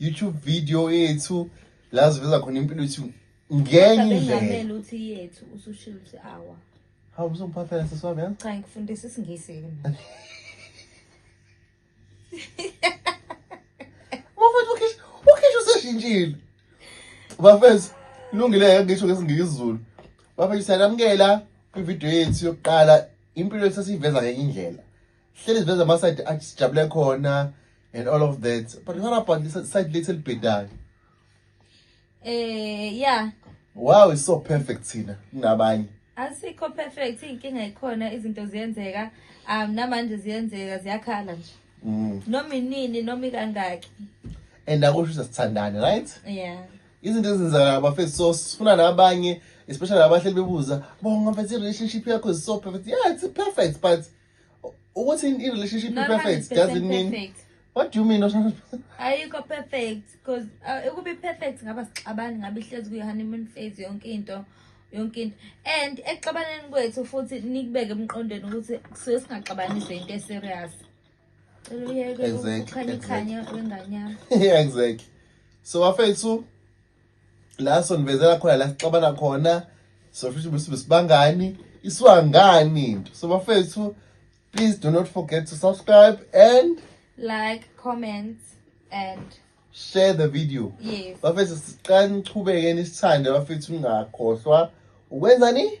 YouTube video yethu la siveza khona impilo yethu ngenye indlela. uthi yethu usushilo uthi awa. Hawu uzongiphathela sisi wami yazi? Cha ngikufundisa isingisi ke mina. Bafethu ukhish ukhish useshintshile. Bafethu lungile ngisho ngesingisi Zulu. Bafethu siyalamukela kwivideo yethu yokuqala impilo yethu sesiyiveza ngenye indlela. hleli ziveza ama-side athi sijabule khona and all of that but what about side lethu elibhedayo eh yeah wow is so perfect thina kunabanye asikho perfect inkinga ikhona izinto ziyenzeka um namanje ziyenzeka ziyakhala nje mm. noma inini noma ikangaki and akusho ukuthi sithandane right yeah izinto ezenzakala bafethu so sifuna nabanye especially abahleli bebuza bonga mfethu i-relationship yakho is so perfect yeah it's perfect but ukuthi in relationship be perfect doesn't mean perfect. what do you mean ayikho perfect because uh, ukubi perfect ngaba sixabani ngabe ihlezi kuyi honeymoon phase yonke into yonke into and ekuxabaneni kwethu futhi nikubeke emqondweni ukuthi kusuke singaxabanise into eserious cela uyeke ukukhanya ikhanya wenganyama yeah exactly so afethu la sonivezela khona la sixabana khona sofisa ukuthi besibangani iswangani into so bafethu please do not forget to subscribe and like comment and share the video yes bafethu siqani chubekeni isithande bafethu ungakhohlwa ukwenzani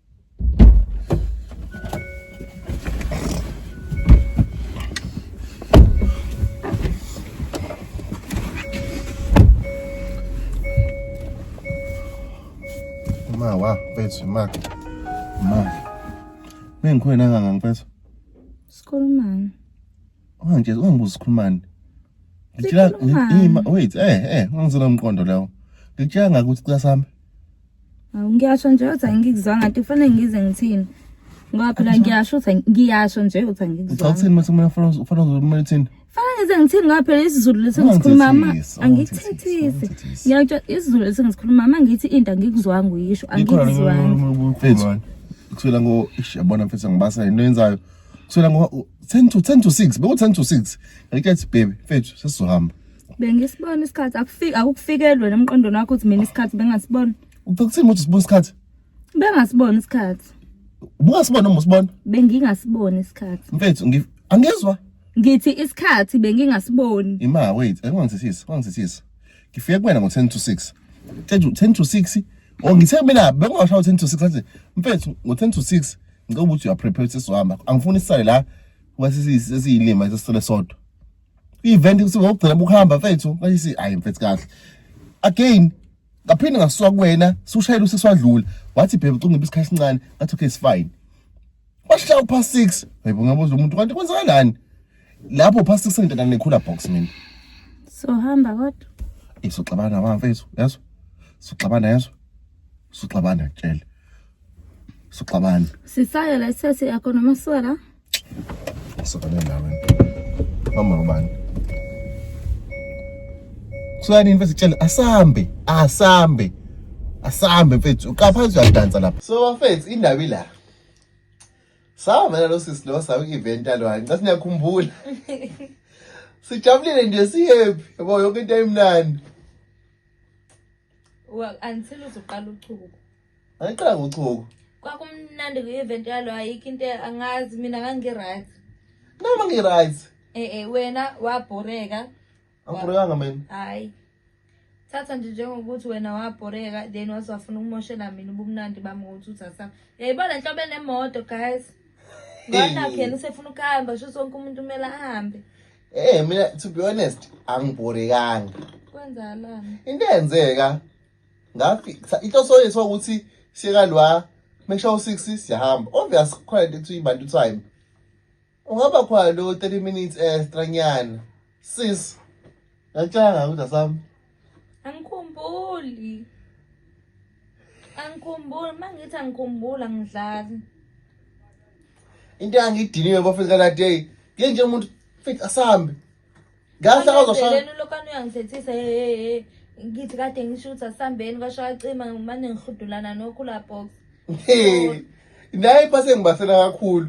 ma wa mfethu ma ma bengikhona kangaka mfethu sikhulumani manje ungibuza sikhulumani ngitshela ima wait eh eh ungizela umqondo lawo ngitshela ngakuthi cela sami Awu ngiyasho nje uthi angikuzwa ngathi kufanele ngize ngithini. Ngoba phela ngiyasho uthi ngiyasho nje uthi angikuzwa. Uthi uthini mase kumele ufana ufana uzomela uthini? Fana ngize ngithini ngoba phela isiZulu lesi ngisikhuluma ma angikuthethisi. Ngiyakutsho isiZulu lesi ngisikhuluma ma ngithi into angikuzwanga uyisho angikuzwanga. Kusela ngo ish yabona mfethu ngibasa into yenzayo. Kusela ngo 10 to 10 to 6 beku 10 to 6. Ngike athi baby mfethu sesizohamba. bengisibona isikhathi akufiki akukufikelwe nemqondweni wakho ukuthi mina isikhathi bengasibona uphekuthini ukuthi sibona isikhathi bengasibona isikhathi ubungasibona uma usibona bengingasibona isikhathi mfethu angizwa ngithi isikhathi bengingasiboni ima wait angangizisisi angizisisi ngifike kuwena ngo 10 to 6 10 to 6 or ngithe mina bengingashawa 10 to 6 athi mfethu ngo 10 to 6 ngicela ukuthi uyaprepare sesizohamba angifuni isale la wasisiyilima sesisele sodwa i-event kusuke ngokugcina bukuhamba mfethu ayisi hayi mfethu kahle again ngaphinde ngasuka kuwena sushayela useswadlula wathi bhebe ucungiba isikhathi esincane ngathi okay it's fine washaya upha 6 hayibo ngabuza umuntu kanti kwenzakalani lapho upha 6 ngidana nekhula box mina so hamba kodwa isoxabana bamfethu yazo soxabana yazo soxabana tshela soxabana sisayo la isesi yakho noma siwa la Sokane nawe. Mama ubani? Kusani mfethu sicela asambe, asambe. Asambe mfethu, uqapha uyadansa lapha. So mfethu indaba ila. Savela lo sisi lo sawu event alwa. Ngicela siyakhumbula. Sijabulile nje sihappy. Yabo yonke into ayimnandi. Well, until uzoqala uchuku. Ayiqala ngochuku. Kwakumnandi ku event yalo ayikho into angazi mina ngangi right. Noma ngi right. Eh eh wena wabhoreka. Angibhoreka mina. Hayi. Thatha nje njengokuthi wena wabhoreka then wasafuna ukumoshela mina ubumnandi bami ngokuthi uthatha. Yayibona inhlobo enemoto guys. Ngona khena usefuna ukuhamba sho sonke umuntu kumele ahambe. Eh mina to be honest angibhorekanga. Kwenzalani? Into eyenzeka ngafika inhloso yethu ukuthi siyeka lwa make sure u6 siyahamba obvious khona into ekuthiwa ibantu time ungaba khona lo 30 minutes extra nyana sis ngakutshanga ukuthi asami angikhumbuli angikhumbuli mangithi angikhumbula ngidlali into yangidiniwe bafika la day ngenje umuntu fika asambe Kahle akazoshaya. Lelo lokani uyangithethisa hey hey hey. Ngithi kade ngisho ukuthi asambeni kwashaya cima ngimane ngihudulana nokhula box. Hey. Naye phase ngibasela kakhulu.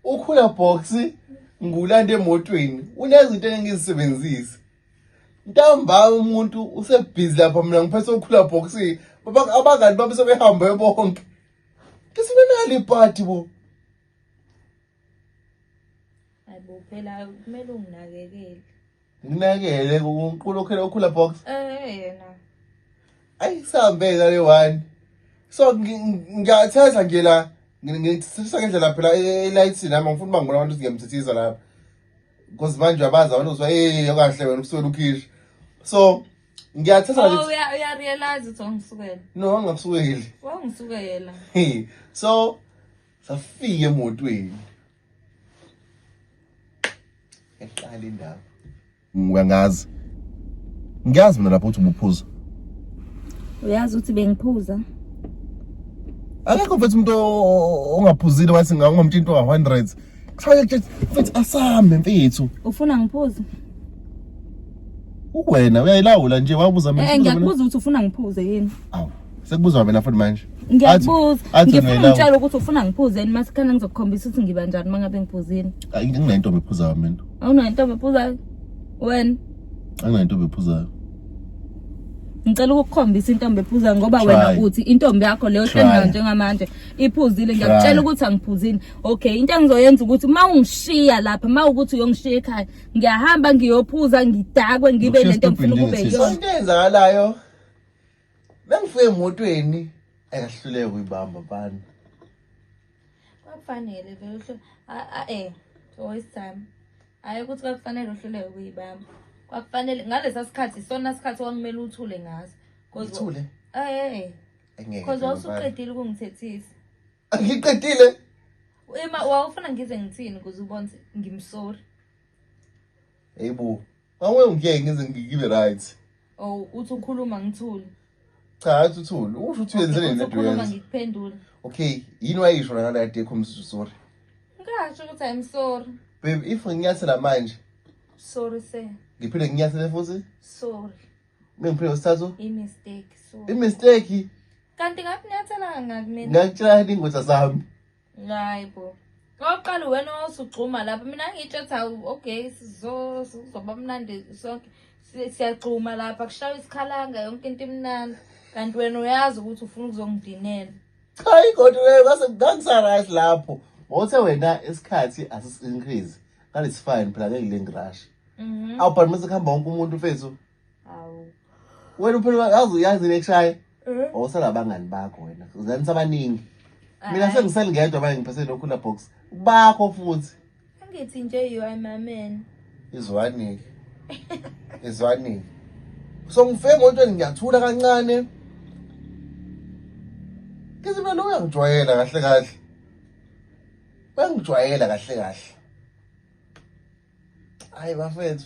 Ukhula box ngulanda emotweni. Unezinto engizisebenzisa. Ntamba umuntu usebhizi lapha mina ngiphethe ukhula box. Baba abangani bami sebehamba bonke. Kesinenali party bo. Hayibo phela kumele unginakekele. Nginakekele uNkulunkulu okhela ukhula box. Eh yena. Ayi sambe ngale one. So ngiyatheza nje la ngithisa ngendlela phela elight e, nami ngifuna bangibona abantu ngiyamthithiza lapha. Because manje abazi abantu uzwa eh okahle wena ukuswela ukhishi. So ngiyathatha oh, nje uya uya realize ukuthi wangisukela no angakusukeli wangisukela so safika emotweni eqala indaba ngiyangazi ngiyazi mina lapho uthi ubuphuza uyazi ukuthi bengiphuza akekho mfethu umuntu ongaphuzile wathi ngamtshela into ka-100 kufanele mfethu asambe mfethu ufuna ngiphuze uwena uyayilawula nje wabuza mina eh, ngiyakubuza ukuthi ufuna ngiphuze yini awu Sekubuzwa mina futhi manje. Ngiyakubuza. Athi- athi Ngifuna ngiyalawa. ungitshele ukuthi ufuna ngiphuzeni masikhala ngizokukhombisa ukuthi ngiba njani uma ngabe ngiphuzile. Ay, Anginayo intombi ephuzayo mina. Awunayo intombi ephuzayo? Wena Anginayo intombi ephuzayo. ngicela ukukukhombisa intombi ephuzayo ngoba Try. wena uthi intombi yakho leyo Try. hlengana njengamanje iphuzile Try. ngiyakutshela ukuthi angiphuzile. Okay, into engizoyenza ukuthi uma ungishiya lapha, uma ukuthi uyongishiya ekhaya, ngiyahamba ngiyophuza ngidakwe ngibe Ukushiya nento engifuna stupid ukube njengesisi. yona. Into eyenzakalayo Mengifike emotweni akahluleke uyibamba bani. Kwakufanele vele uhlo a eh always time. Hayi ukuthi kwakufanele uhluleke kuyibamba. Kwakufanele ngalesa sikhathi sona sikhathi okumele uthule ngaso. Uthule? Eh. Ngeke. Cause wawusuqedile ukungithethisa. Ngiqedile. Ema wawufuna ngize ngithini kuze ubone ngimsori. Hey bo, Awe ngeke ngize ngibe right. Oh uthi ukhuluma ngithule. Cha hathi uthule. Usho uthi uyenzele into ukhuluma yenza. ngikuphendula. Okay, yini wayisho la ngale adekho umsizo sorry. Ngasho ukuthi I'm sorry. Babe if nginyathela manje Sorry sir. ngiphinde nginyathele futhi Sorry. bengiphinde usithathu I mistake. Sorry. i mistake Kanti ngakunyathela ngakmina. ngakutshela ingoda sami. Hayi bo. Oqala wena osugxuma lapha mina ngitshetha okay sizoba mnandi sonke siyagxuma lapha kushawa isikhalanga yonke into imnandi kanti wena uyazi ukuthi ufuna ukuzongidinela. Cha ingodi wewe base ngangisa right lapho. Wothe wena isikhathi asis increase. Kanti it's fine phela ngeke lengrash. Mhm. Awubhalimisa kuhamba wonke umuntu mfethu. Awu. Wena uphela yazi uyazi nekushaye. Eh? Awusala abangani bakho wena. Uzanisa abaningi. Mina sengiselingedwa manje ngiphethe lokhu la box. Bakho futhi. Angithi nje you are my man. Izwani. Izwani. So ngifike ngontweni ngiyathula kancane. Kithi mina lo uyangijwayela kahle kahle. Uyangijwayela kahle kahle. hayi bafethu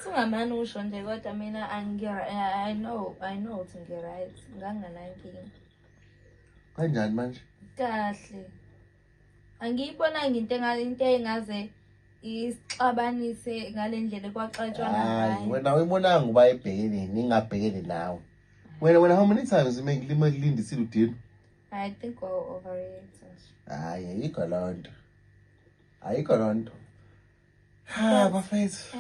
singamane usho nje kodwa mina i know i know ukuthi ngi-right nganginganankinga kanjani manje kahle angiyibonanga into into engaze isixabanise ngale ndlela ekwaxatshwa ngayo wena uyibonanga uba ebhekene ningabhekene nawe wena wena how many times mekulindisile udini i think over it hayi ayikho loo nto ayikho loo nto ha bafethu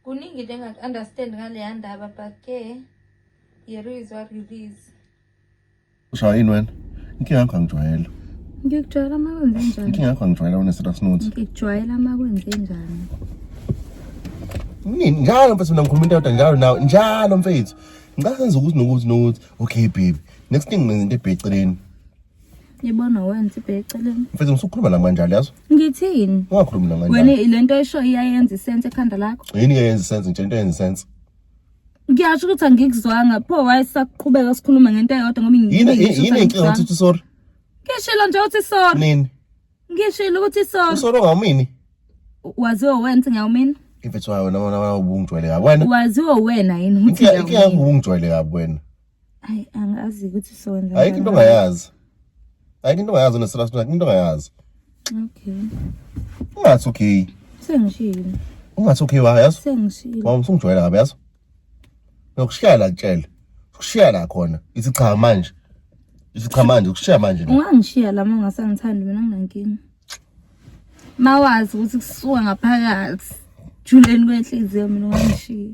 kuningi into engaku-understand ngaleya ndaba but ke here is what it is ushaya yini wena inkinga yakho angijwayele ngikujwayela uma kwenze njani inkinga yakho angijwayela wena serious note ngikujwayela uma kwenze njani nini njalo mfethu mina ngikhuluma into yodwa njalo nawe njalo mfethu ngicela senze ukuthi nokuthi nokuthi okay baby next thing ngenza into ebheceleni Yibona wenza ibhe eceleni. Mfethu ngisukhuluma la manje yazi. Ngithini? Ungakhulumi la manje. Wena lento esho iyayenza isense ekhanda lakho. Yini iyayenza isense nje into eyenza isense. Ngiyasho ukuthi angikuzwanga pho wayesakuqhubeka sikhuluma ngento eyodwa ngoba ngiyini. Yini inkinga ukuthi sorry. Ngishilo nje ukuthi sorry. Nini? Ngishilo ukuthi sorry. Sorry ngawumini. Waziwa wenza ngawumini. If it's why wena wena ubungijwayele kabi wena. Waziwa wena yini ukuthi ngawumini. Ngiyangibungijwayele kabi wena. Hayi angazi ukuthi sowenza. Ayikho into ongayazi. Ayikho into ongayazi unesela sona into ongayazi. Okay. Ungathi okay. Sengishilo. Ungathi okay wa yazi? Sengishilo. Wawum usungijwayela ngabe yazi? Nokushiya la kutshela. Ukushiya la khona. Ithi cha manje. Ithi cha manje ukushiya manje. Ungangishiya la mama ngasangithandi mina nginankinga. Mawazi ukuthi kusuka ngaphakathi. Juleni kwenhliziyo mina ungangishiya.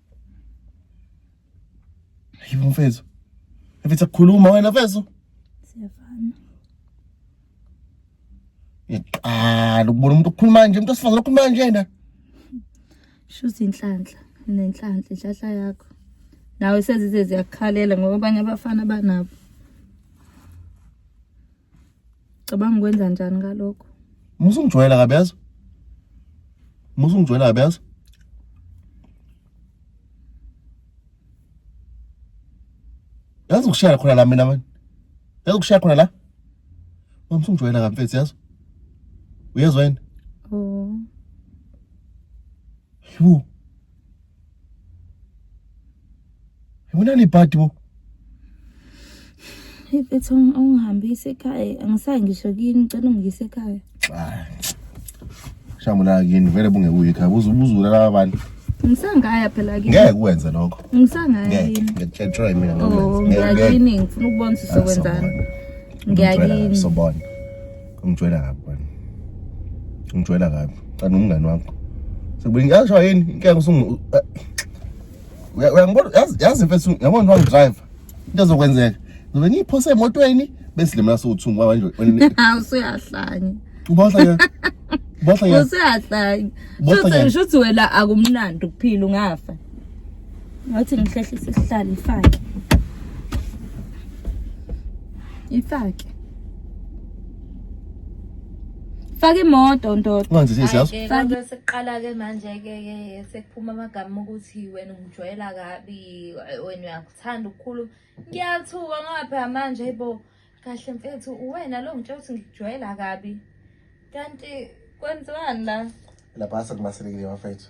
Ayubo mfethu. Mfethu akukhuluma wena mfethu. Siyafana. Iqala ukubona umuntu ukhuluma nje, umuntu osifazana ukhuluma njena. Shuthi inhlanhla, nenhlanhla inhlahla yakho. Nawe sezize ziyakukhalela ngoba abanye abafana banabo. Cabanga ukwenza njani ngalokho? Musa ungijwayela kabi yazi. Musa ungijwayela kabi yazi. Yazi ukushaya khona la mina manje. Yazi ukushaya khona la. Musa ungijwayela kabi mfethu yazi. Uyezwa yini? Oh. Yhu. Yona libhadi bo. Ifethu ungihambise ekhaya. Angisayi ngisho kini ngicela ungiyise ekhaya. Shamula kini vele bungekuyi ekhaya. Buzu buzula laba bantu. Ngisangaya phela kini. Ngeke kwenze lokho. Ngisangaya Ngeke. kini. Ngiyakutshela mina Oh, ngikwenze. Ngeke, ngeke. ngiyakini ngifuna ukubona ukuthi uzokwenzani. Ngicela, Ngiyakini. Sobona. ungijwayela kabi bani ungijwayela kabi cana umngani wakho sekubuye ngisho yini inkinga usungu eh, uyangibona yazi mfethu yabona ngiwa driver into ezokwenzeka ngizobe ngiphose emotweni bese lemela sowuthungu baba nje usuyahlanya uba uhlanya uba uhlanya usuyahlanya shuthi wena akumnandi ukuphila ungafa ngathi ngihlehlise isihlalo ifake ifake faka imoto ndoda unganzi sisi yazi faka sekuqala ke manje ke ke sekuphuma amagama ukuthi wena ungijwayela kabi wena uyakuthanda ukukhuluma ngiyathuka ngoba phela manje bo kahle mfethu uwena lo ngitshela ukuthi ngikujwayela kabi kanti kwenziwani la lapha sekumaselekile bafethu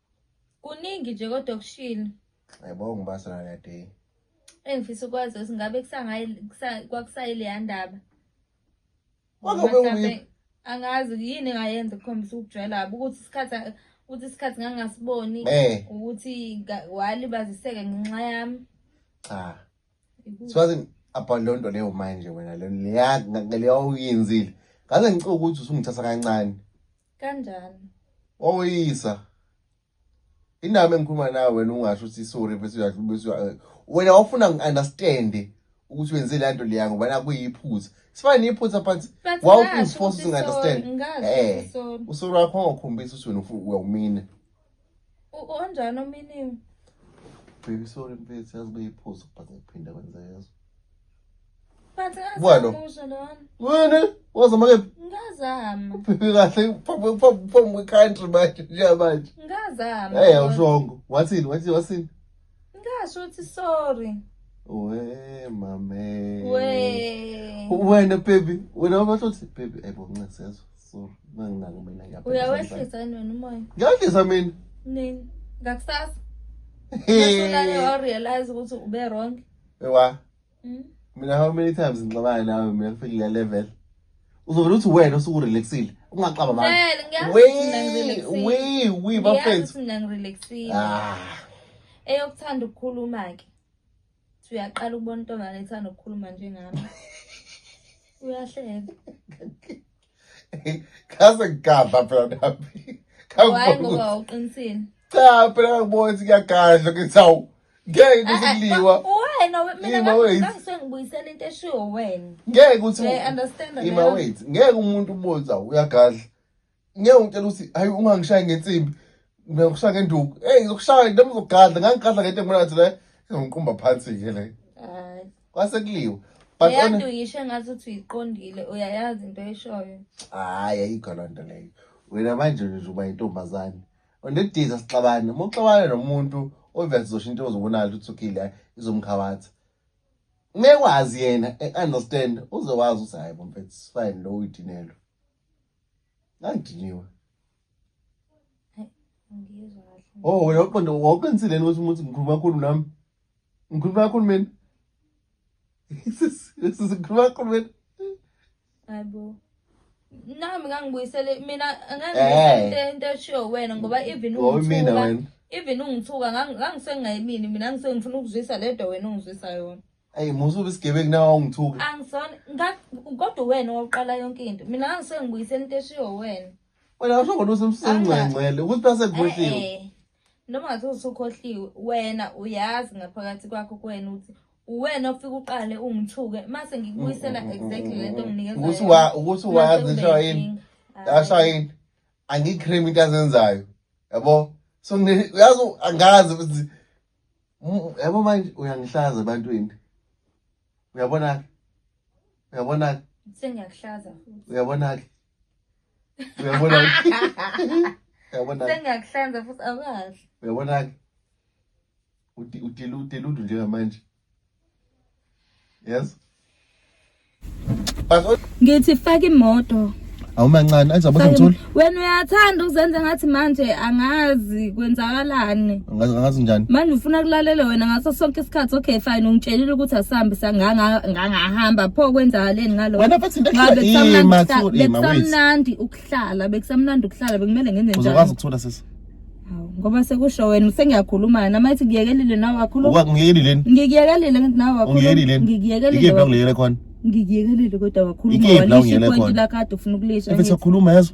Kuningi nje kodwa okushilo. Yebo ngibasa nale day. Engifisa ukwazi ukuthi ngabe kusangayi kwakusayile yandaba. Kwabe uyi angazi yini engayenza ukukhombisa ukujwayela kabi ukuthi isikhathi ukuthi isikhathi ngangasiboni eh. ukuthi walibaziseka ngenxa yami. Cha. Siwazi abandonto leyo manje wena leyo leyo uyenzile. Ngaze ngicela ukuthi usungithatha kancane. Kanjani? Wawuyisa. Inami engikhuluma nawe wena ungasho ukuthi sorry bese uyadla bese wena wafuna ngi-understand ukuthi wenze le nto leya ngoba nakuyiphuza sifane niyiphutha but wawufunisifosa ukuthi ngi-understand um usoro wakho ongakhombisi ukuthi wena uyawumina Onjani ominingi? Baby sorry mfethu yazi beyiphuza but ngiphinda kwenza yezo. But Bwalo. Wena wazama ke? Ngazama. Uphephe kahle phambi phambi phambi country manje nje manje. Ngazama. Hey awushongo. Wathini wathi wathini? Ngasho ukuthi sorry. We mame. We. Wena baby, wena wabatho uthi baby ebo ncesezwe. Sorry, manginako mina ngiyapha. Uyawehlisa yini wena umoya? Ngiyahlisa mina. Nini? Ngakusasa. Hey. Ngiyasho la realize ukuthi ube wrong. Ewa. Mm. Mina how many times ngixabana nawe mina ngifike kule level. Uzovela uthi wena usuku relaxile. Ungaxaba manje. Vele ngiyazi ukuthi mina We ngirelaxile. we we Ngiyazi bafethu. ukuthi mina ngirelaxile. Ah. Eyokuthanda ukukhuluma ke. Uthi uyaqala ukubona intombazane ethanda ukukhuluma njengami. Uyahleka. Kaze ngigadla phela nami. Why ngoba uqinisile? Cha phela ngibona ukuthi kuyagadla ngithi awu ngeke ukuthi eh, eh, kuliwa. Wena mina ngangisuke ngibuyisela into eshiwo wena. Ngeke ukuthi Ima wait. Ngeke umuntu ubone ukuthi uyagadla. Ngeke ungitshela ukuthi hayi ungangishayi ngensimbi. Ngiyokushaya ngenduku. Hey ngizokushaya nami ngizogadla ngangigadla ngento engibona ngathi le ngizongiqumba phansi ke le. kwase kuliwe but uyantu yisho engathi uthi uyiqondile uyayazi into eshoyo hayi ayikho loo nto leyo wena manje nje uba yintombazane unediza sixabane uma uxabane nomuntu ovele sizosho into ozobonala ukuthi uthukile izomkhabatha ngeke wazi yena e-understand uze wazi ukuthi hhayi bomfethu sifine lo uyidinelo ngangidiniwe o oh, wena uqonde wawuqinisile ukuthi umuntu ngikhuluma kakhulu nami Ngikhuluma kakhulumeni. Sikhuluma kakhulumeni. Hayibo. Nami ngangibuyisele mina ngangibuyisele eh. into eshiyo wena ngoba even ungithuka. Even ungithuka ngangisengayimini mina ngisengifuna ukuzwisa ledwa wena ungizwisa yona. Ayi musa ube isigebengu nawe ungithuka. Angisona kodwa wena owaqala yonke into. Mina ngisengibuyise into eshiyo wena. Wena usho ngoba usemsengcengcele ukuthi base kuhle. noma ngathi usukhohliwe wena uyazi ngaphakathi kwakho kuwena ukuthi uwena ofika uqale ungithuke mase ngikubuyisela mm, mm, mm, exactly lento onginikeza ukuthi wazi ishawa yini ashawa yini angiyicream into azenzayo yabo so uyazi angazi ukuthi yabo manje uyangihlaza ebantwini uyabona-ke uyabona-ke sengiyakuhlaza futhi uyabona-ke uyabona uyabona sengiyakuhlanza futhi awukahle uyabona ke udela udela undu njengamanje yes ngithi faka imoto awumancane azaboza ngitsula wena uyathanda ukuzenza ngathi manje angazi kwenzakalani ngazi njani manje ufuna kulalela wena ngaso sonke isikhathi okay fine ungitshelile ukuthi asihambe sangangahamba pho kwenzakaleni ngalo wena futhi into bekusamnandi ukuhlala bekusamnandi ukuhlala bekumele ngenze njani uzokwazi ukuthola sisi ngoba sekusho wena sengiyakhuluma nami athi ngiyekelile nawe wakhuluma ngiyekelile ngiyekelile nawe wakhuluma ngiyekelile ngiyekelile khona ngikuyekele kodwa kakhulu ngoba lisho ipointi lakade ufuna ukulisha efe siyakhuluma yazo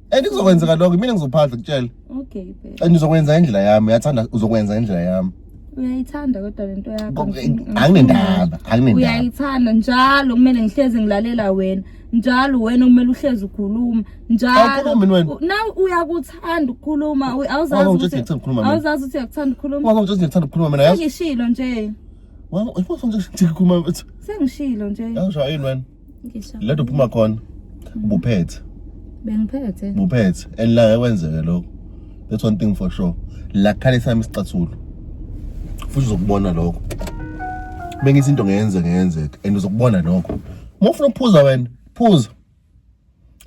and kuzokwenzeka lokho mina ngizophatha kutshela okay babe and uzokwenza indlela yami uyathanda uzokwenza indlela yami uyayithanda kodwa lento yakho anginendaba anginendaba uyayithanda njalo kumele ngihleze ngilalela wena njalo wena kumele uhleze ukhuluma njalo na uyakuthanda ukukhuluma awuzazi ukuthi ngikuthanda ukukhuluma wazi ukuthi ngikuthanda ukukhuluma mina yazi ngishilo nje wazi ukuthi ngikuthanda ukukhuluma sengishilo nje yawusho yini wena Ngishaya. Lento uphuma khona. Ubuphethe. Bengiphethe. Ubuphethe. And la kwenzeke lokho. That's one thing for sure. La khale sami isicathulo. Futhi uzokubona lokho. Bengithi into ngeyenzeke ngeyenzeke and uzokubona lokho. Uma ufuna ukuphuza wena, phuza.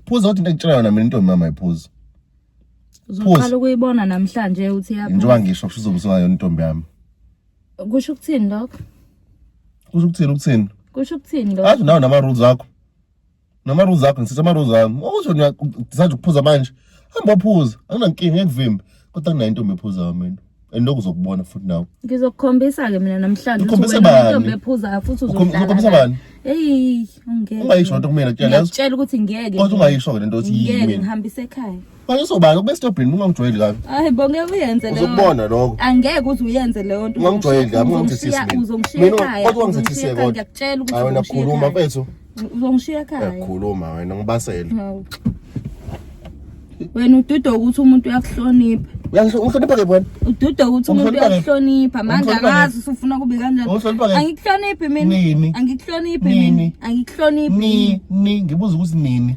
Phuza uthi into engitshela yona mina intombi mama iphuza. Uzoqala ukuyibona namhlanje uthi yapha. Njengoba ngisho kusho uzobuza yona intombi yami. kusho ukuthini lokho kusho ukuthini ukuthini kusho ukuthini lokho athi nawe nama rules akho nama rules akho ngisithe ama rules ami okusho ngisanda ukuphuza manje hamba ophuza anginankinga ngekuvimba kodwa kunayintombi ephuzayo mina and lokhu uzokubona futhi nawe ngizokukhombisa ke mina namhlanje ukhombise bani ephuzayo futhi uzokhombisa bani hey ungeke ungayisho lento kumina kutshela ukuthi ngeke kodwa ungayisho ke lento ukuthi yimi ngeke ngihambise ekhaya Manje sobani ukube stobhini ungangijwayeli kabi. Hayi bo ngeke uyenze leyo. Uzokubona lokho. Angeke uze uyenze leyo nto. Ungangijwayeli kabi ungangithethisi mina. Uzongishiya ekhaya. Kodwa ungangithethisi kodwa. Ngiyakutshela ukuthi. Hayi wena khuluma mfethu. Uzongishiya ekhaya. Uyakhuluma wena ngibasele. Hawu. Wena ududo ukuthi umuntu uyakuhlonipha. Uyakuhlonipha ke wena. Ududo ukuthi umuntu uyakuhlonipha. Manje akazi usufuna kube kanjani. Angikuhloniphi mina. Angikuhloniphi mina. Angikuhloniphi. Ni ni ngibuza ukuthi nini.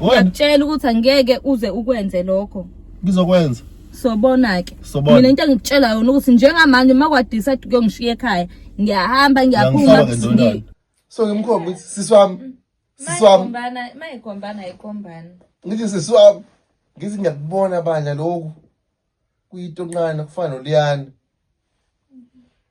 ngiyakutshela ukuthi angeke uze ukwenze lokho ngizokwenza sobona-ke mina into engikutshela yona ukuthi njengamanje uma kwadisa kuyongishiya ekhaya ngiyahamba ngiyaphuma so ngimkhomba ukuthi sisi wami sisi wami mayigombana ayigombani ngithi sisi wami ngithi ngiyakubona bandla lokhu kuyitonqana kufana noliyana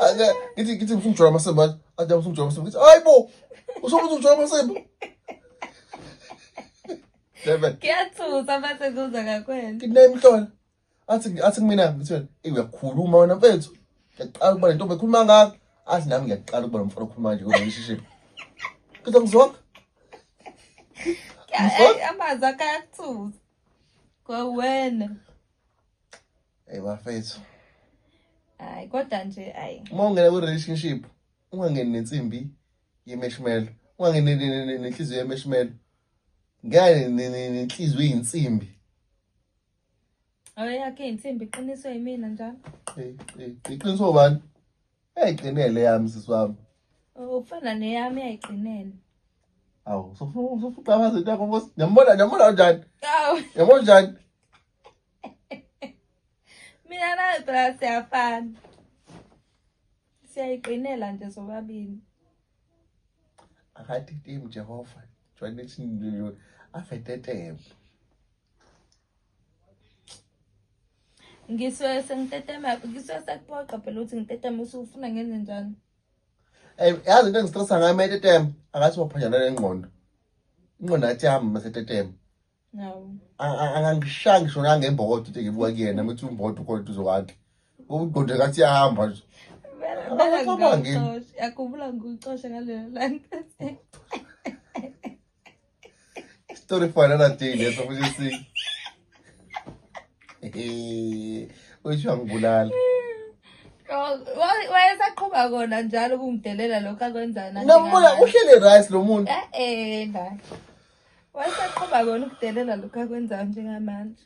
Ake ngithi ngithi ngifuna ukujwayela amasembu manje. Ake ngifuna ukujwayela amasembu. Ngithi hayibo. Usobe ukujwayela amasembu. Devil. Kuyathusa mase kuza ngakwena. Ngithi naye mhlola. Athi athi kumina ngithi wena "Eyi, uyakhuluma wena mfethu. Ngiyaqala ukuba le ntombi ekhuluma ngakho. Athi nami ngiyaqala ukuba nomfana okhuluma kanje kodwa ngishishile. Ngithi ngizonke. Ay, Amazwi akhe ayakuthusa. kwawena hey bafethu hayi kodwa nje hayi uma ungena kwi relationship ungangeni nensimbi yemeshmelo ungangeni nenhliziyo yemeshmelo ngeke nenhliziyo yinsimbi Awe yakhe insimbi iqiniswe yimina njalo. Iqiniswe ubani? Yayiqinele yami sisi wami. Oh, ufana neyami yayiqinele. Awu, sofuqabaza into yakho Nkosi. Ngiyambona, ngiyambona njani? Awu. Yabona njani? Mina nawe phela siyafana. Siyayiqinela nje sobabili. Akathi tim Jehova. Jwanethu afetetele. ngisuke sengitetema ngisuke sekuphoqa phela ukuthi ngitetema usufuna ngenze njani Ey yazi into engistressa ngayo mayetetema akathi waphanyana nengqondo. Ingqondo athi yami masetetema. Nawu. Angangishaya ngisho nangembokodo ukuthi ngibuka kuyena mthi umbokodo kodwa duzo kwakhe. Umqondo kathi yahamba nje. Yakubula ngikucoshe ngaleyo langa. Story for another day leso futhi si. Usho ngibulala. wayesaqhuba kona njalo ukungidelela lokhu akwenzana ngambuza uhlele rice lo muntu eh eh la wayesaqhuba kona ukudelela lokhu akwenzana njengamanje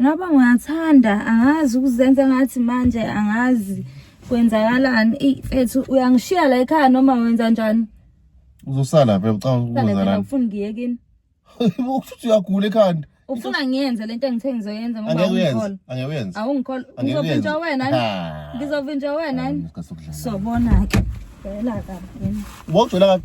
Ngaba ngiyathanda angazi ukuzenza ngathi manje angazi kwenzakalani ey mfethu uyangishiya la ekhaya noma wenza njani uzosala phela ucabanga ukwenza la ufuna ngiyekini ukuthi uyagula ekhanda ufuna ngiyenze lento engithe ngizoyenza ngoba ungikhola angeke uyenze awungikhola ngizovinjwa wena ngizovinjwa wena sobona ke phela ka yini wogcwela ka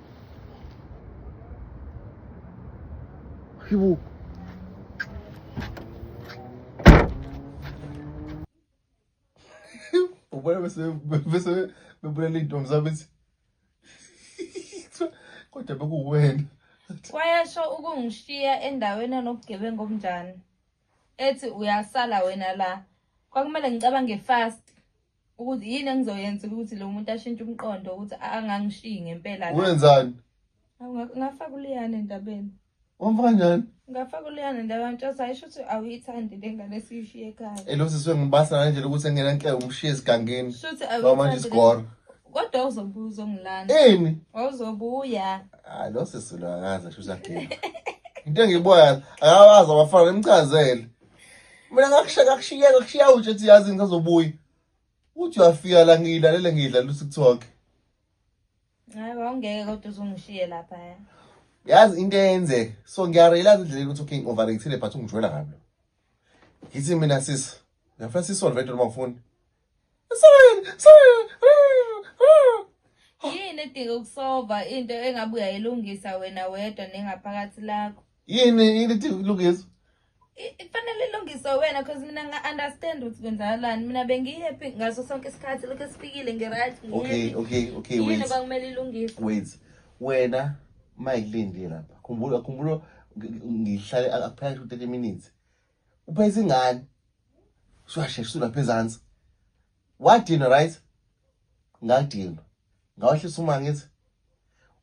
Хіву. Ubona bese bese bebulele intombi zabo bethi kodwa bekuwena. Wayasho ukungishiya endaweni enobugebengu obunjani. Ethi uyasala wena la. Kwakumele ngicabange fast. ukuthi yini engizoyenza ukuthi lo muntu ashintshe umqondo ukuthi angangishiyi ngempela wenzani ngafaka uliyane endabeni wamfaka njani ngafaka uliyane endabeni ntshosa ayisho ukuthi awuyithandi le ngane esiyishiye ekhaya elosiswe ngibasa nanje lokuthi engena nhle umshiye esigangeni shuthi awuyithandi isigora kodwa uzobuza ongilanda ini wawuzobuya hayi losisi lo akaze shuthi agila into engiboya akawazi abafana nimchazele mina ngakushiya ngakushiyeka kushiya utshe ethi yazi ngisazobuya uthi uyafika la ngiyilalele ngiyidlala usikuthoke hayi wawungeke kodwa uzungishiye lapha ya yazi into eyenzeka so ngiyarealize indlela yokuthi okay ngi-overratile but ungijwela kabi ngithi mina sisi ngiyafuna sisolve into noma ufuni yini edinga ukusova into engabe uyayilungisa wena wedwa nengaphakathi lakho yini yini edinga ukulungiswa kufanele ilungiswe wena cause mina nga-understand ukuthi kwenzakalani mina bengihappy ngaso sonke isikhathi lokhu esifikile ngi-right okay okay okay wait yini kwakumele ilungiswe wait wena mayikulindile lapha khumbula khumbula ngihlale akuphela 30 minutes uphayisa ingane shwashe sulapha ezansi wadinwa right ngadinwa ngawehlisa uma ngithi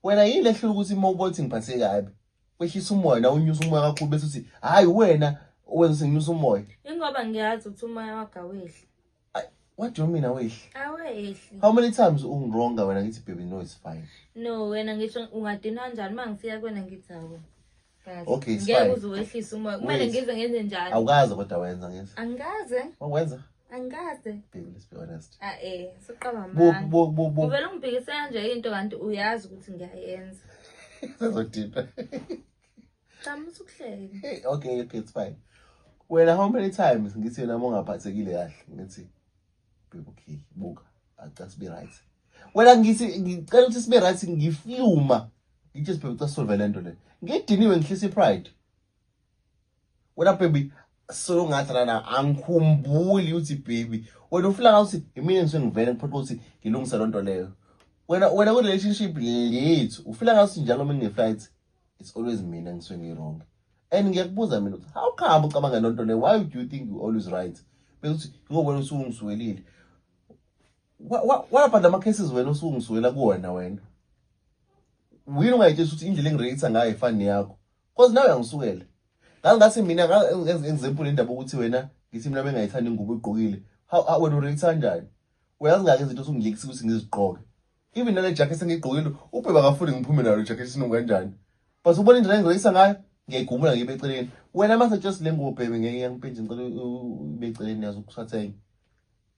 wena yini lehlula ukuthi uma ubona ukuthi ngiphathe kabi wehlisa umoya na unyusa umoya kakhulu bese uthi hhayi wena owenza ukuthi nginyusa umoya ingoba ngiyazi ukuthi umoya wagawehle What do you mean awehli? Awehli. How many times ungironga wena ngithi baby no it's fine. No wena ngisho ungadinwa kanjani mangisiya kwena ngithi awu. Okay, it's fine. Ngeke uzowehlisa uma kumele ngize ngenze njalo. Awukaze kodwa wenza ngithi. Angikaze. Wenza? Angikaze. Baby let's be honest. Ah eh, siqaba manje. Bo bo bo bo. Uvela ungibhekise kanje into kanti uyazi ukuthi ngiyayenza. Sezodina. Cha musukuhleke. Hey okay okay it's fine. Wena how many times ngithi wena mongaphathekile kahle ngithi people key buka acase be right. Wena ngithi ngicela ukuthi sibe right ngifluma. Ngithe sibheke ukuthi solve lento le. Ngidiniwe ngihlisa ipride. Wena baby so ngathi lana angikhumbuli ukuthi baby wena ufuna ukuthi imina ngise ngivele ngiphoqa ukuthi ngilungise lonto leyo. Wena wena ku relationship lethu ufuna ngathi njalo mina ngeflight. it's always mina ngisuke ngirong and ngiyakubuza mina ukuthi how come ucabanga lonto le why do you think you always right bekuthi ngoba wena usungisuwelile wapha lama cases wena usungisuwela kuwona wena wini ungayitshela ukuthi indlela engireyitha ngayo ifani yakho cause nawe uyangisuwela ngaze ngathi mina example indaba ukuthi wena ngithi mina bengayithandi ingubo igqokile wena ureyitha kanjani uyazi ngake izinto osungilekisa ukuthi ngizigqoke Even nale jacket sengiyigqokile ubheba akafuni ngiphume nalo jacket sinuka kanjani. But ubona indlela engizolisa ngayo ngiyayigumula ngibe eceleni. Wena mase just le ngubo bhebe ngeke yangiphinda ngicela ube eceleni yazi ukusathenga.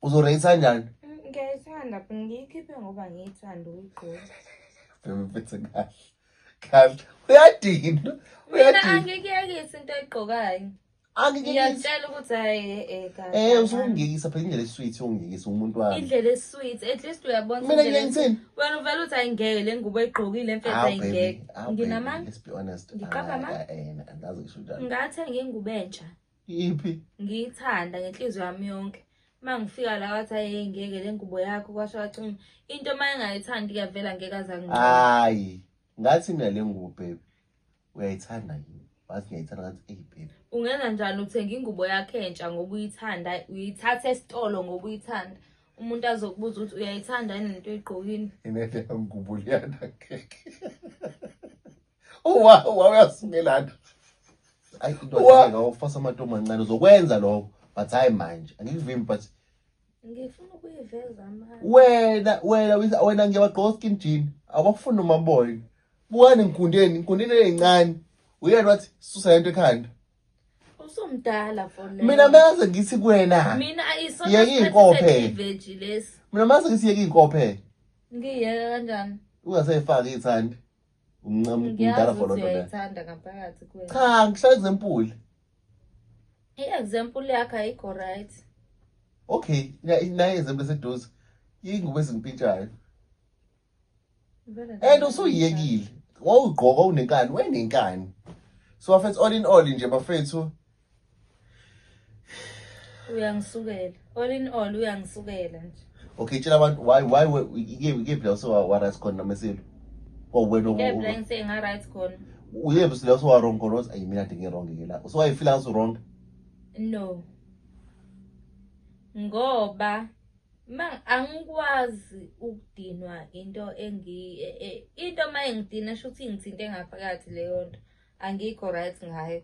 Uzoreyisa kanjani? Ngiyayithanda but ngiyikhiphe ngoba ngiyithanda ukuyigqoka. Bhebe mphethe kahle. Kahle. Uyadina. Mina Uyadina. angikuyekisi into oyigqokayo. Ngiyakutshela ukuthi hayi eh kahle. Eh usungiyekisa phela indlela esweet ungiyekisa umuntu wami. Indlela esweet at least uyabona Mina ngiyenzini? Wena uvela uthi ayingeke le ngubo egqokile emfethu ayingeke. Nginamanga. Let's be honest. Ngiqapha ah, amanga. Eh, eh angazi ngisho njalo. Ngathenga ingubo entsha. Iphi? Ngiyithanda ngenhliziyo yami yonke. mangifika la wathi aye ngeke le ngubo yakho kwasho wathi into uma engayithandi kuyavela ngeke aza hayi Ngathi mina le ngubo baby uyayithanda yini? Wathi ngiyayithanda ngathi eyi baby. Ungenza njani uthenge ingubo yakhe entsha ngoba uyithanda uyithatha esitolo ngoba uyithanda. Umuntu azokubuza ukuthi uyayithanda yini lento oyigqokile. Inede ngubo liyanda keke. Uwa uwa uyasingelana. Ayi into ayifasa amantombazane uzokwenza lokho but hayi manje angikuvimbi but ngifuna ukuyiveza manje wena wena wena ngiyabagqoka skin jean awakufuni noma boy bukani ngikundeni ngikundeni eyincane uyena wathi susa lento ekhanda usumdala fona mina maze ngithi kuwena mina ayisona yeke inkophe iveji lesi mina maze ngithi yeke inkophe ngiyeke kanjani ungasayifaki ithandi umncama umdala for lonto le cha ngishaye example i-example yakhe ayikho right okay naye example seduze yingubo ezimpintshayo and usuyiyekile wawugqoka unenkani wenenkani so bafethu all in all nje bafethu uyangisukela all in all uyangisukela nje okay tshela abantu why why ikephi la usewa-right khona noma esilo or wena ngisengaright khona uyephi sila usewa-wrong khona othi ayi mina ndingi-wrong ke la usewayifila usu-wrong no ngoba ma angikwazi ukudinwa into engi e, e, into uma engidina sho ukuthi ingithinte ngaphakathi leyo nto angikho right ngayo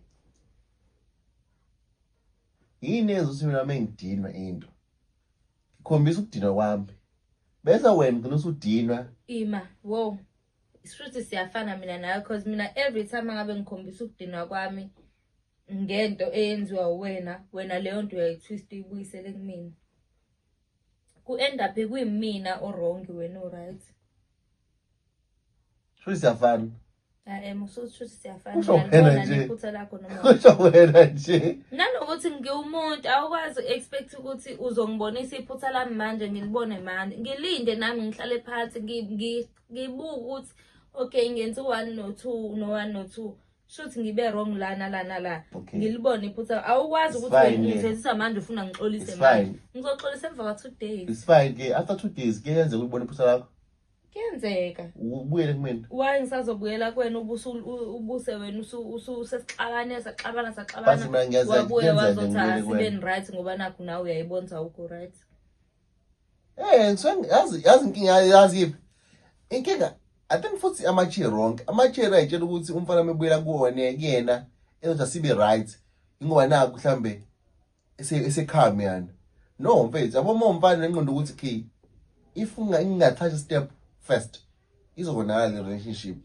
yini yenza ukuthi mina mengidinwe into ikhombisa ukudinwa kwami bese wena ugcina usudinwa ima wo shuthi siyafana mina nawe cause mina every time angabe ngikhombisa ukudinwa kwami ngento eyenziwa uwena wena leyo nto uyayitwist uyibuyisele kumina ku-end up kwimina orongi wena uright Shuthi siyafana. Hayi musuthi siyafana. Kusho wena nje. Iphutha lakho noma. Kusho wena nje. Nanokuthi ngiwumuntu awukwazi expect ukuthi uzongibonisa iphutha lami manje ngilibone manje. Ngilinde nami ngihlale phansi ngibuke ukuthi okay ngenza u1 no2 no1 no2. shuthi ngibe wrong lana lana la Okay. ngilibone iphutha awukwazi It's ukuthi fine, ngizenzisa manje ufuna ngixolise It's manje fine. ngizoxolisa emva kwa two days It's fine ke after two days ke yenze ukubona iphutha lakho kuyenzeka ubuyele kumina. why ngisazobuyela kuwena ubusu u- ubuse wena usu- usu- usesixabane saxabana Base saxabana mina ngiyazi wabuye kuyenzeka ngibuyele wazothatha kuwena. sibeni right ngoba nakho nawe uyayibona ukuthi awukho right Eh ngizwe yazi yazi inkinga yazi yiphi? Inkinga I think futhi amatshe wrong. Amatshe ayitshela ukuthi umfana mebuyela kuwona kuyena ezothi asibe right. Ingoba naku mhlambe esekhami yani. No mfethu yabo uma umfana nenqondo ukuthi key if ungathatha step first izobonakala le relationship.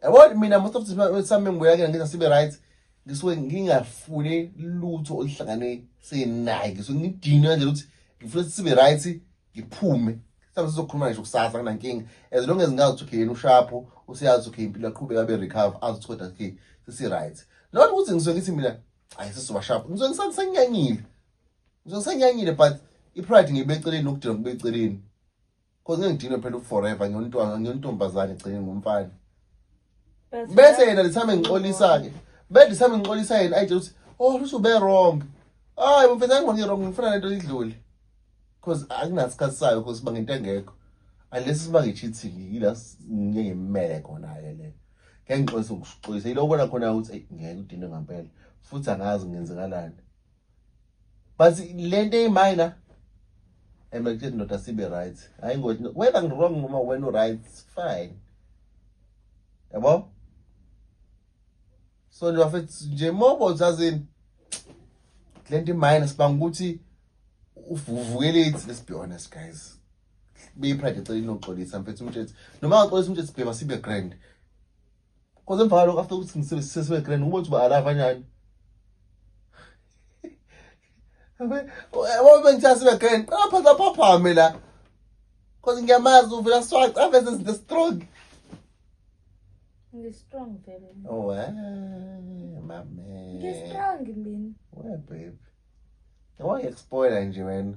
yabo mina most of the time sami ngibuya ke ngenza sibe right ngisuke ngingafune lutho oluhlangane senaye ngisuke ngidinwe nje ukuthi ngifuna sibe right ngiphume mhlawumbe sizokhuluma ngisho kusasa kunankinga as long as ngazi ukuthi okay yena ushapho useyazi ukuthi okay impilo yaqhubeka abe recover azi ukuthi kodwa okay sesi-right not ukuthi ngisuke ngithi mina ayi sesizoba shapho ngisuke ngisangisenyanyile ngisuke ngisenyanyile but i-pride ngiyibeka eceleni nokudinwa kubeka eceleni Cause ngeke ngidinwe phela uforever ngiyontwana ngiyontombazane gcine ngumfana. Bese yena lithame ngixolisa ke. Bese lithame ngixolisa yena ayitshela ukuthi oh lusube wrong. Hayi mfethu angibonge wrong ngifuna lento idlule. Cause akunasikhathi sayo cause siba ngento engekho. Unless siba ngecheating yila ngeke ngimele khona ke le. Ngeke ngixolise ukuxolisa yiloko la khona ukuthi ngeke udinwe ngempela futhi angazi ngenzekalani. but lento eyiminor and ngikuthi ndoda sibe right hayi ngothi whether ngirong noma wena uright fine yabo so nje bafethu nje mobo zazini le nto imayini sibanga ukuthi uvukelethi let's be honest guys beyipride ecela inoxolisa mfethu umtshethi noma ngaxolisa umtshethi sibhema sibe grand Cause emva kwalokho after ukuthi ngisebenzise sibe grand uba uthi uba alava nyani. Yabo bengithatha sibe grand. Qapha lapha phame la. Cause ngiyamazi uvela swaca aveze izinto strong. Ngi-strong vele. Oh, eh, my man. Ngi-strong mina. Where babe? Why expoiler nje wena?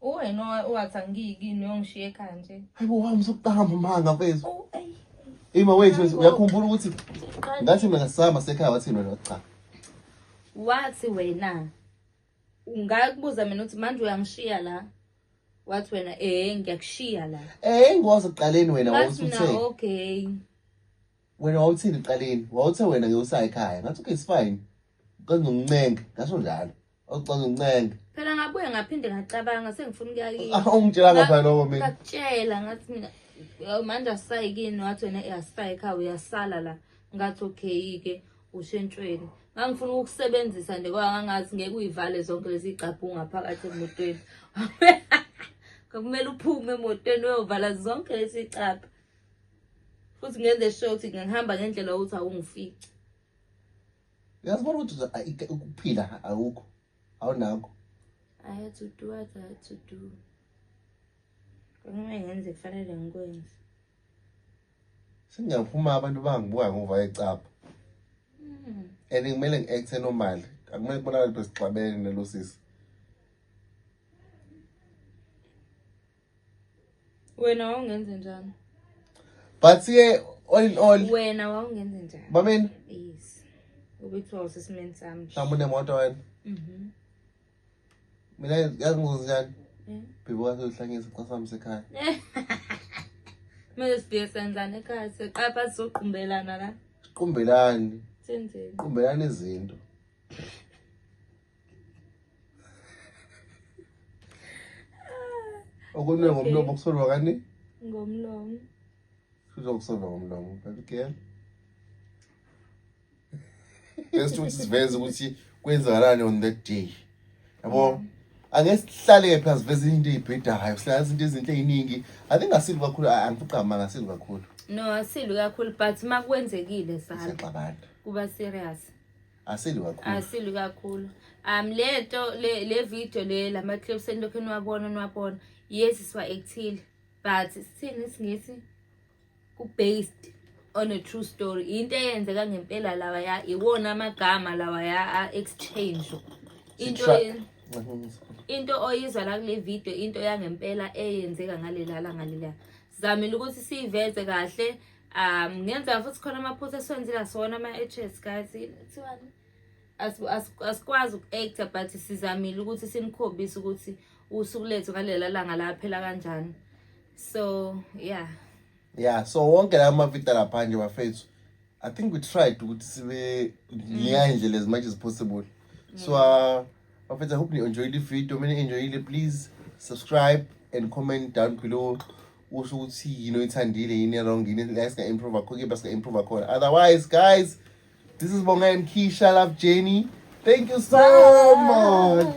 Uwena owathi angiyi kini uyongishiya ekhaya nje. Hayi bo wami sokuqala mamanga mfethu. Oh, Ima wethu wethu uyakhumbula ukuthi ngathi mina sama sekhaya wathi wena cha. Wathi wena ungakubuza mina ukuthi manje uyangishiya la. Wathi wena eh ngiyakushiya la. Eh ngoze kuqaleni wena wawuthi uthe. Okay. Wena wawuthini eqaleni? Wawuthe wena ngeke usaya ekhaya. Ngathi okay, it's fine. Ucela ungincenge. Ngasho njalo. Ucela ungincenge. Phela ngabuye ngaphinde ngacabanga sengifuna ukuya kini. Ah, ungitshela ngapha lokho mina. Ngakutshela ngathi mina "Yo, manje asisayi kini wathi wena "Eh, asisayi ekhaya uyasala la. Ngathi okay ke ushentshweni. Ngangifuna ukukusebenzisa nje kodwa ngangazi ngeke uyivale zonke lezi igcabhu ngaphakathi emotweni. Kwakumele uphume emotweni uyovala zonke lezi igcabhu. futhi ngenze sure ukuthi ngihamba ngendlela ukuthi awungifici uyazibona ukuthi ukuphila awukho awunakho i had to do what i had to do kwakumele ngenze kufanele ngikwenze sengiyaphuma abantu bangibuka ngova ecapha hmm. and kumele ngi-acthe normal akumele kubonakale besixabene nalosisi wena wawungenze njani but ke all in all wena wawungenze njani bameni yes ubethiwa usesimeni sami mhlawumbe unemoto wena mhm mina yazi ngizozi njani eh? bhibo kasohlangisa xa sami sekhaya kumele sibhiye senzani ekhaya siqapha sizoqumbelana la siqumbelani senzeni qumbelani izinto okunwe ngomlomo kusolwa kani ngomlomo kuzokusolwa ngomlomo baby girl bese ukuthi siveze ukuthi kwenzakalani on that day yabo angeke sihlale phela siveze into eyibhedayo sihlala izinto ezinhle eziningi i think asili kakhulu angifugqama ngasili kakhulu no asili kakhulu but makwenzekile sala kuba serious Asili kakhulu. Asili kakhulu. Um le to le le video le lama clips enilokhu niwabona niwabona yes siwa ekuthile but sithini isingisi ku based on a true story into eyenzeka ngempela lawa ya iwona amagama lawa ya exchange into into oyizwa la kule video into yangempela eyenzeka ngalelala ngalelala sizamile ukuthi siyiveze kahle um ngenzeka futhi khona amaphutha esiwenzile asiwona ama-edges guys kuthiwani asikwazi uku-acta but sizamile ukuthi simkhombise ukuthi usuku lethu ngalela langa laphela kanjani so yeah yeah so wonke la mavidiyo lapha nje bafethu I think we tried ukuthi sibe ngiya indlela as much as possible. So uh, bafethu I hope you enjoyed the video. Mina enjoyile please subscribe and comment down below. Usho ukuthi yini oyithandile yini wrong yini la singa improve akho ke basinga improve akhona. Otherwise guys this is Bonga and Keisha Love Jenny. Thank you so much.